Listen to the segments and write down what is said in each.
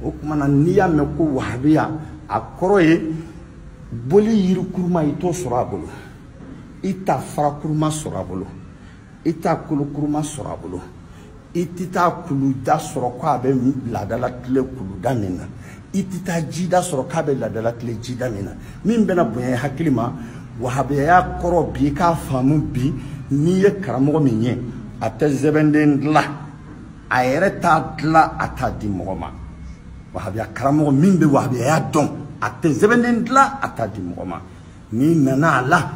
o tuma na n'i y'a mɛn ko wahabiya a kɔrɔ ye boli yiri kuruma i t'o sɔrɔ a bolo i tɛ fara kuruma sɔrɔ a bolo i tɛ kolo kuruma sɔrɔ a bolo i tɛ taa kuluda sɔrɔ ko a bɛ laada latilen kuluda min na i tɛ taa jida sɔrɔ k'a bɛ laada latilen jida min na min bɛna bonya hakili ma wahabiyaya kɔrɔ bi k'a faamu bi n'i ye karamɔgɔ min ye a tɛ sɛbɛnden dilan a yɛrɛ t'a dilan a t'a di mɔgɔ ma wahabiya karamɔgɔ min bɛ wahabiyaya dɔn a tɛ sɛbɛnden dilan a t'a di mɔgɔ ma n'i nana a la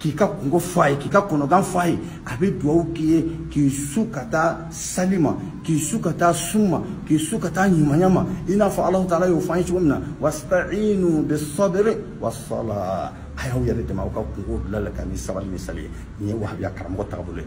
k'i ka kunko fɔ a ye k'i ka kɔnɔgan fɔ a ye a bɛ dugawu k'i ye k'i su ka taa sali ma k'i su ka taa sun ma k'i su ka taa ɲumanya ma i n'a fɔ alahu taala y'o fɔ an ye cogo min na wastainu bisabiri wasala a y'aw yɛrɛ dɛmɛ aw ka kunko dilan la ka ni sabali ni sali ye nin ye wahabiya karamɔgɔ taabolo ye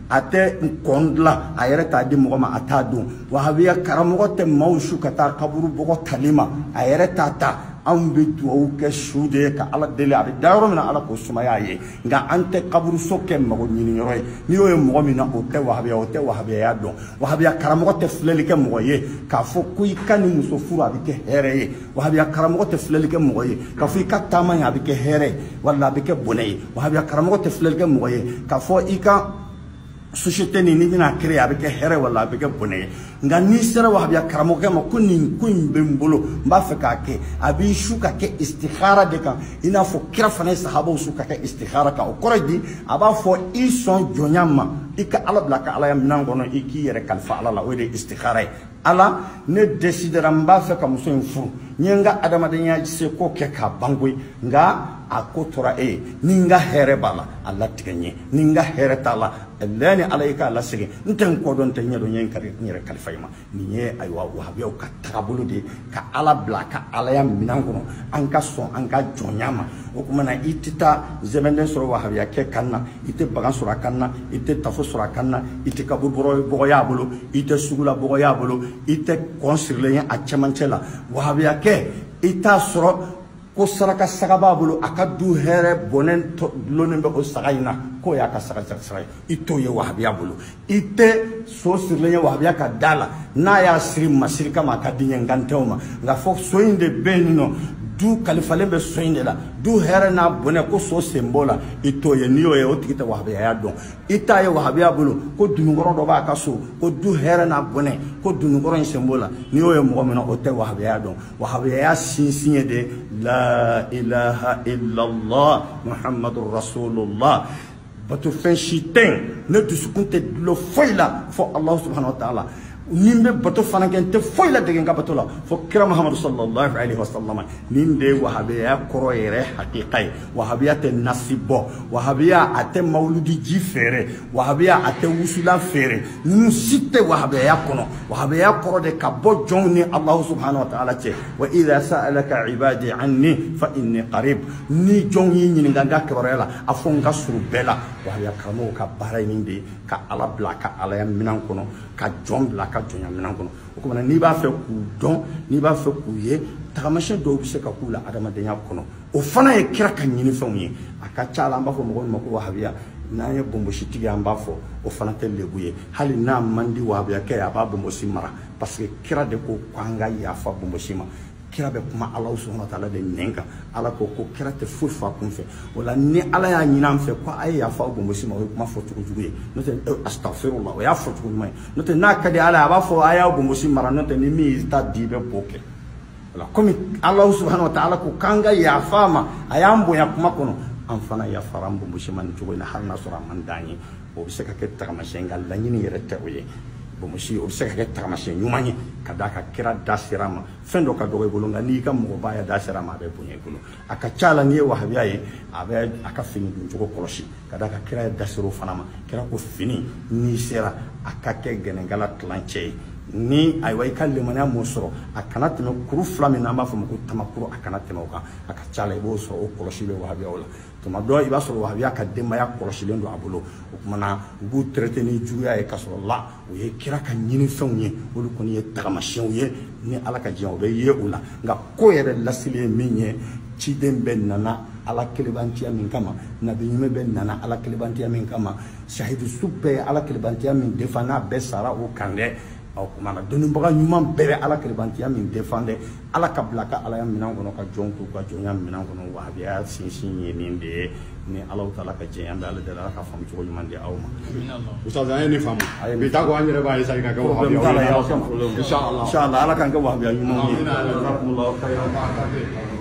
a tɛ kɔn dilan a yɛrɛ t'a di mɔgɔ ma a t'a don wahabiya karamɔgɔ tɛ maaw su ka taa kaburu bɔgɔ tali ma a yɛrɛ t'a ta anw bɛ dugawu kɛ su de ye ka ala deli a bɛ da yɔrɔ min na ala k'o sumaya a ye nka an tɛ kaburuso kɛ mago ɲini yɔrɔ ye n'i y'o ye mɔgɔ min na o tɛ wahabiya o tɛ wahabiyaya dɔn wahabiya karamɔgɔ tɛ filɛli kɛ mɔgɔ ye k'a fɔ ko i ka nin muso furu a bɛ kɛ hɛrɛ ye wahabiya karamɔgɔ tɛ filɛli kɛ mɔgɔ ye k'a fɔ i ka taama in a bɛ kɛ hɛrɛ walima a bɛ kɛ bɔnɛ ye wahabiya karamɔgɔ tɛ filɛli kɛ mɔgɔ ye k'a fɔ i ka société nin n'i bɛna créer a bɛ kɛ hɛrɛ wala a bɛ kɛ bɔnɛ ye nka n'i sera wahabiya karamɔgɔkɛ ma ko nin ko in bɛ n bolo n b'a fɛ k'a kɛ a b'i su ka kɛ istihara de kan i n'a fɔ kira fana ye sahabaw su ka kɛ istihara kan o kɔrɔ ye di a b'a fɔ i sɔn jɔnya ma i ka ala bila a ka alaya minɛn kɔnɔ i k'i yɛrɛ kalifa ala la o de ye istihara ye ala ne desidera n b'a fɛ ka muso in furu n ye n ka adamadenya seko kɛ k'a ban koyi nka a ko tora e ye ni n ka hɛrɛ b'a la a latigɛ n ye ni n ka hɛrɛ t'a la lɛ ni ala y'i k'a lasegin n tɛ n kɔ dɔn n tɛ n ɲɛ dɔn n ye n yɛrɛ kalifa i ma nin ye ayiwa wahabiyaw ka tagabolo de ye ka ala bila a ka alaya minan kɔnɔ an ka sɔn an ka jɔnya ma o tuma na i tɛ taa sɛbɛnden sɔrɔ wahabiyakɛ kan na i tɛ bagan sɔrɔ a kan na i tɛ tafo sɔrɔ a kan na i tɛ kaburu bɔgɔ y'a bolo i tɛ sugula bɔgɔ y'a bolo i tɛ kɔn sirilen ye a cɛmancɛ la wahabiyakɛ i t'a sɔrɔ ko saraka saga b'a bolo a ka du hɛrɛ n'a bɔnɛ dulonnen bɛ o saga in na k'o y'a ka saraka saga ye i t'o ye wahabiya bolo i tɛ so sirilen ye wahabiya ka da la n'a y'a siri masiri kama a ka di a ye an kan t'o ma nka k'a fɔ so in de bɛ yen nɔ du kalifalen bɛ so in de la du hɛrɛ n'a bɔnɛ ko so sen b'o la i t'o ye n'i y'o ye o tigi tɛ wahabiyaya dɔn i t'a ye wahabiya bolo ko dononkɔrɔ dɔ b'a ka so ko du hɛrɛ n'a bɔnɛ ko dononkɔrɔ in sen b'o la n'i y'o ye mɔgɔ min na o tɛ wahabiyaya dɔn wahabiyaya sinsin ye de la ilaha illallah muhammadu rasulullah batofɛn si tɛ yen ne dusukun tɛ dulon foyi la fo alahu subhanahu wa taala ni n bɛ bato fana kɛ n tɛ foyi ladege n ka bato la fo kira muhamadu sallallahu alaihi wa sallam nin de ye wahabiyaya kɔrɔ yɛrɛ hakika ye wahabiya tɛ nasi bɔ wahabiya a tɛ mawuludi ji feere wahabiya a tɛ wusula feere ninnu si tɛ wahabiyaya kɔnɔ wahabiyaya kɔrɔ de ka bɔ jɔnw ni alahu subhanahu wa taala cɛ wa idha sa'alaka ibadi anni fa inni qarib ni jɔnw y'i ɲininka n ka kibaruya la a fɔ n ka surun bɛɛ la wahabiya karamɔgɔw ka baara ye nin de ye ka ala bila ka alaya minɛn kɔnɔ ka jɔn bila ka jɔnya minɛn kɔnɔ o kumana n'i b'a fɛ k'u dɔn n'i b'a fɛ k'u ye tagamasiyɛn dɔw bɛ se ka k'u la adamadenya kɔnɔ o fana ye kira ka ɲinifɛnw ye a ka ca la an b'a fɔ mɔgɔ min ma ko wahabiya n'an ye bonbositigi ye an b'a fɔ o fana tɛ lebu ye hali n'a man di wahabiyakɛ ye a b'a bonbosi mara parce que kira de ko ko an ka yafa bonbosi ma kira bɛ kuma ala subhanahu wa taala de nɛn kan ala ko ko kira tɛ foyi f'a kun fɛ o la ni ala y'a ɲini an fɛ ko a ye yafa bonbosi ma o ye kuma fɔ cogo jugu ye n'o tɛ eh, astafirula o y'a fɔ cogo ɲuman ye n'o tɛ n'a ka di ala ye a b'a fɔ a y'a bonbosi mara n'o tɛ ni min y'i ta di i bɛ b'o kɛ wala komi alahu subahana wa taala ko k'an ka yafa a ma a y'an bonya kuma kɔnɔ an fana yafara an bonbosi ma nin cogo in na hali n'a sɔrɔ a man d'an ye o bɛ se ka kɛ tagamasiyɛn nka laɲini yɛrɛ tɛ o ye bonbosi o bɛ se ka kɛ tagamasiyɛn ɲuman ye ka d'a kan kira da sera a ma fɛn dɔ ka dɔgɔ i bolo nka n'i ka mɔgɔbaaya da sera a ma a bɛ bonya i bolo a ka ca la n'i ye wahabiya ye a bɛ a ka fini don cogo kɔlɔsi ka d'a kan kira yɛrɛ da ser'o fana ma kira ko fini n'i sera a ka kɛ gɛnɛnkala tilancɛ ye ni ayiwa i ka limaniya m'o sɔrɔ a kana tɛmɛ kuru fila min n'an b'a fɔ ma ko tamakuru a kana tɛmɛ o kan a ka ca la i b'o sɔrɔ o kɔlɔsi bɛ wahabiyaw la tuma dɔ i b'a sɔrɔ wahabiya ka denbaya kɔlɔsilen don a bolo o tuma na u b'u traité ni juguya ye ka sɔrɔ la o ye kira ka ɲinifɛnw ye olu kɔni ye tagamasiyɛnw ye ni ala ka jɛn o bɛ ye u la nka ko yɛrɛ lasili ye min ye ciden bɛɛ nana ala kelebantiya min kama nabi ɲuman bɛɛ nana ala kelebantiya min kama sahidu su bɛɛ ye ala kelebantiya min défend n'a bɛɛ sara o kan dɛ o kumana dɔnnibaga ɲuman bɛɛ bɛ ala kelebantiya min défendre ala ka bila ka alaya minɛn kɔnɔ ka jɔn t'u ka jɔnya minɛn kɔnɔ wahabiya sinsin ye nin de ye ni alahu taala ka jɛn an bɛ ala deli ala ka faamu cogo ɲuman di aw ma ustaz an ye nin faamu bi ta ko an yɛrɛ b'a fɛ sa ka kɛ wahabiya ye inshallah ala k'an kɛ wahabiya ɲumanw ye